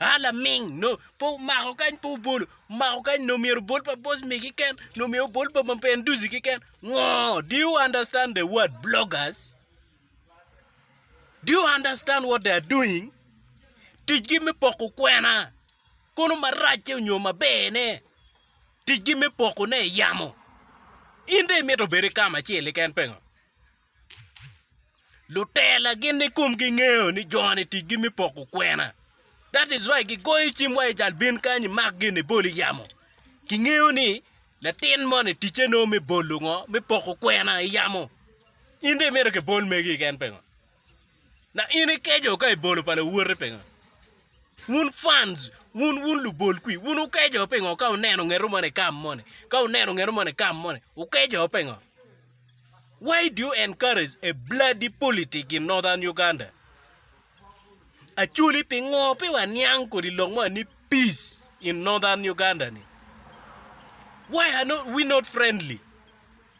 A laming nongo pe omako kany pe obolo omako kany nongo myero obol pa boss me keken nongo myero obol pa mapen duci keken ngo do you understand the word bloggers do you understand what they are doing ticgi me poko kwena kono maracce nyo maberne ticgi me pokone yamo in dong imito bedo i kama acel-li keken pingo? Lutela gin ni kum gi ngeyo ni joni tic gi me poko kwena that is why gi goyo cim wa ijal bin kany imak gin ibol iyamo ki ngeyo ni latin moni ticce no me bolo ngo me poko kwena iyamo in dong imito ki bol megi keken pengo Na in ikeco ka ibolo pa lawoti pingo? Wun fans, wun wun lubol kwi, wun wukeco pingo ka uneno ngeto moni kam moni, ka uneno ngeto moni kam moni, wukeco pingo? Why do you encourage a bloody politic in northern Uganda? Acholi pingo pe waniang kodi lok mo ni peace in northern Uganda ni? Why are not we not friendly?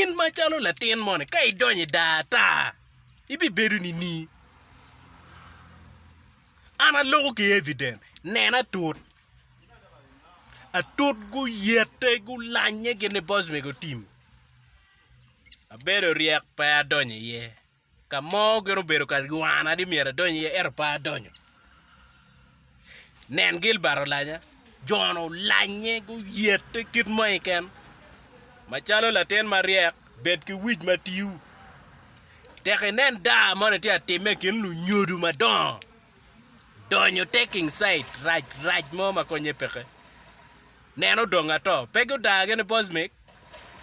In macalo latin moni, ka idonyo i daa ata, ibibedo nining? An aloko ki evident, nena atut. Atut guyete, gulanye gin ni boss mego tim. Abedo ryek pe adonyo iye. Ka mo gin obedo ka ywana ni myero adony iye, ento pe adonyo. Nen, Gilbat olanya, jo-nu olanye guyette kit mo keken. Macalo latin maryek, bed ki wic ma tiu. Tek inen daa moni tye ka timme i kin lunyodo madongo, donyo taking side, rac rac mo ma konnye peke. Neno dong ato. Pe gudagi ni Bosmic?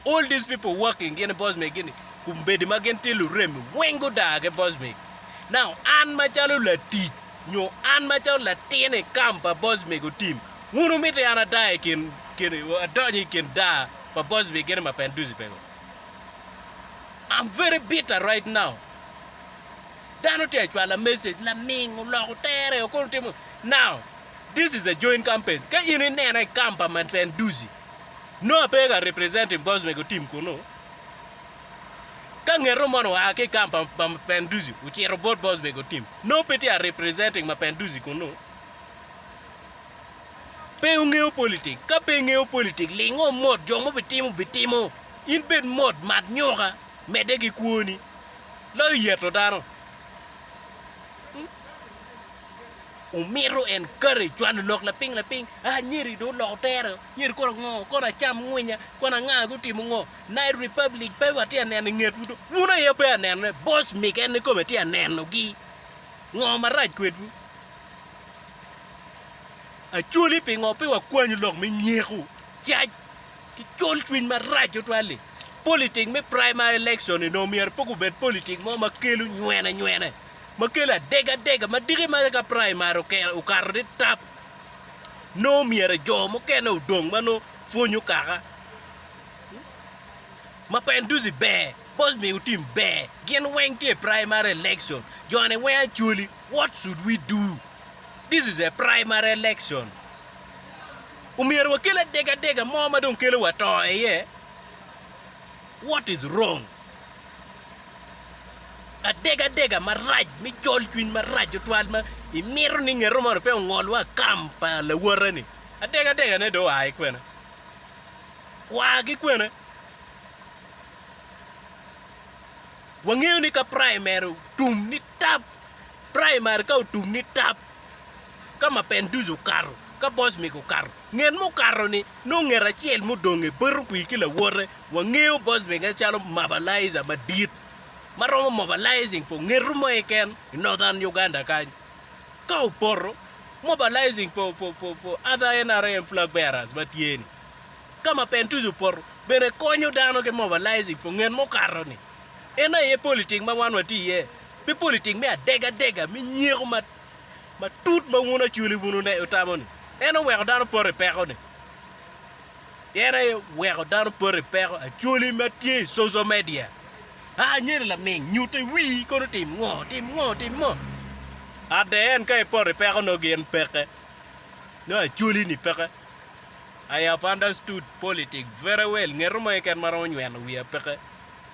All these people working gin i boss me gini kumbedi ma gin tye luremi weng gudaa ki boss me. Now an macalo latic nyo an macalo latin i kam pa boss me go team wun umiti an adaa i kin kin adonyo i kin daa pa boss me gini ma pen duzi pe go. I'm very bitter right now. Dano tye acwala message laming oloko tere okono timo now this is a joint campaign ka in inena i kam pa ma pen duzi Noah pe ka representative government otim kunu. Ka ngeto moni oa ki camp pa pa Mapinduzi ocito bot government otim. Noah pe tye a representing Mapinduzi kunu. Pe wungeyo politik. Ka pe ingeyo politik ling o mot jo ma obitimo bitimo. In bed mot mat nyoka medde ki kwoni. Loyo yeto dano. Omito en kare cwalo lok lapiny lapiny, aa nyeri dong oloko tere o, nyeri kono ngo, kono acam ngwinya, kono anga gutimo ngo, Night Republic pe watye ka neno ingetwu do, wun aye wupeya nenone, Boss Mick en ni kome tye ka nenogi, ngo marac kwedwu? Acholi pingo pe wakwanyu lok me nyeko, cac ki col cwiny marac tutwal-li, Politic me primary election-ni dong myero pe gubed politic mo ma kelo nywene nywene. ma kelo adegadega ma diki ma ka praimari oke- okato ni tap nongo myero jo mukene odong ma nongo pwonyo kaka ma penduzi ber bos miyo tim ber gin weng tye i praimari election jone weng acwali what should we do this is a praimari election omyero wakel adegadega mo ma dong kelo wa to i iye What is wrong? Adega adega marac me col cwiny marac tutwal ma imito ni ngeto moni pe ongol wa kam pa lawote ni. Adega adega ne do oa ki kwene? Oa ki kwene? Wangeyo ni ka primary otum ni tap, primary ka otum ni tap, ka ma Penduzi okato, ka Bosmik okato, nget mukato-ni nongo nget acel mudong i Berubwi ki lawote. Wangeyo Bosmik-ke calo mobilizer madit ma romo mobilizing for ngeto mo keken i Northern Uganda kany. Ka opoto, mobilizing for, for, for, for other NRM flag bearers ma tye-ni. Ka ma Penduzi opoto, bene konyo dano ki mobilizing for nget mukato-ni. En aye politik ma wan watye iye. Pi politik me adegadega me nyeko matut ma wun Acholi wun wutamo-ni, en oweko dano poto i peko-ni. En aye oweko dano poto i peko, Acholi ma tye i coco media. A, anyira laming, nyutte wii kono tim ngo, tim ngo, tim ngo. Adde en ka ipoto i peko nongo gin peke, nongo Acholi-ni peke. I have understood politics very well, ngeto mo keken ma romo nyweno wiya peke.